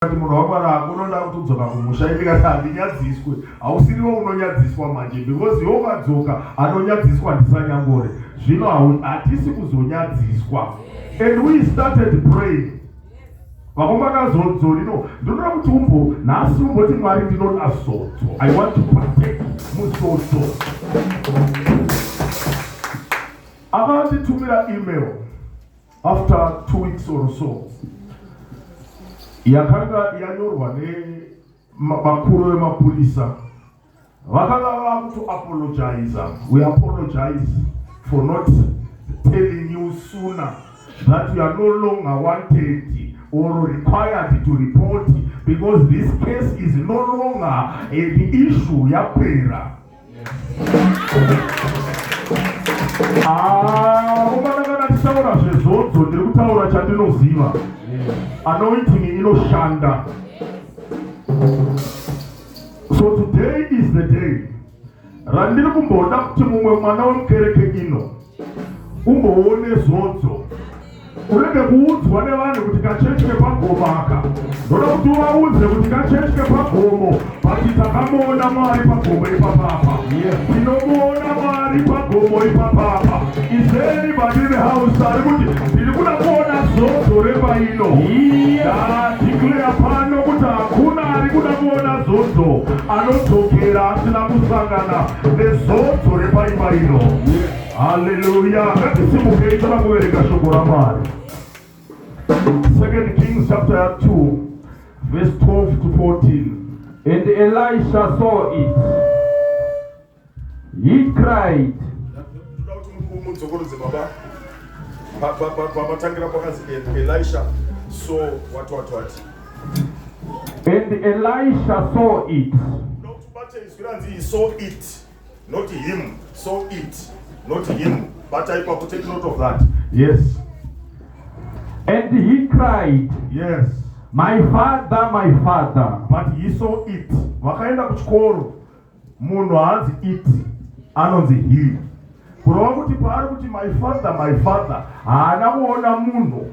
Kati munhu wakwara unoda kutodzoka kumusha ndikati handinyadziswe hausiriwo unonyadziswa manje because iwo ukadzoka anonyadziswa ndisanyangore zvino hatisi kuzonyadziswa and we started praying vakomakazodzorino ndinoda kuti umbo nhasi umboti mwari ndinoda zodzo i want to partake muzodzo avanditumira email After two weeks or so yakanga yanyorwa nevakuru vemapurisa vakanga vava kuto apologiza we apologize for not telling you sooner that you are no longer wanted or required to report because this case is no longer the issue yapera akomana tisaura zvezvodzo ndiri kutaura chandinoziva anointing inoshanda so today is the day randiri kumboda kuti mumwe mwana wemukereke ino umboone zodzo unenge kuudzwa nevanhu kuti kachechi kepagomo aka ndoda kuti uvaudze kuti kachechi kepagomo bati takamuona mwari pagomo ipapapa tinomuona mwari pagomo ipapapa izeni badini house ari kuti ndiri kuda kuona zodzo repaino ndadikleya pano kuti hakuna ari kuda kuona zodzo anodzokera asina kusangana Nezodzo repaimba ino. Haleluya. Ngatisibukei tana kuverenga shoko raMwari. Second Kings chapter 2 verse 12 to 14. And Elisha saw it. He cried. Elisha saw what what what And Elisha saw it. Ndokubata izwi ranzi he saw it, not him, saw it, not him. But I ipapo take note of that. Yes. And he cried. Yes. My father, my father. But he saw it. Vakaenda kuchikoro. Munhu haanzi it, anonzi he. Kurova kuti paari kuti my father, my father, haana kuona munhu.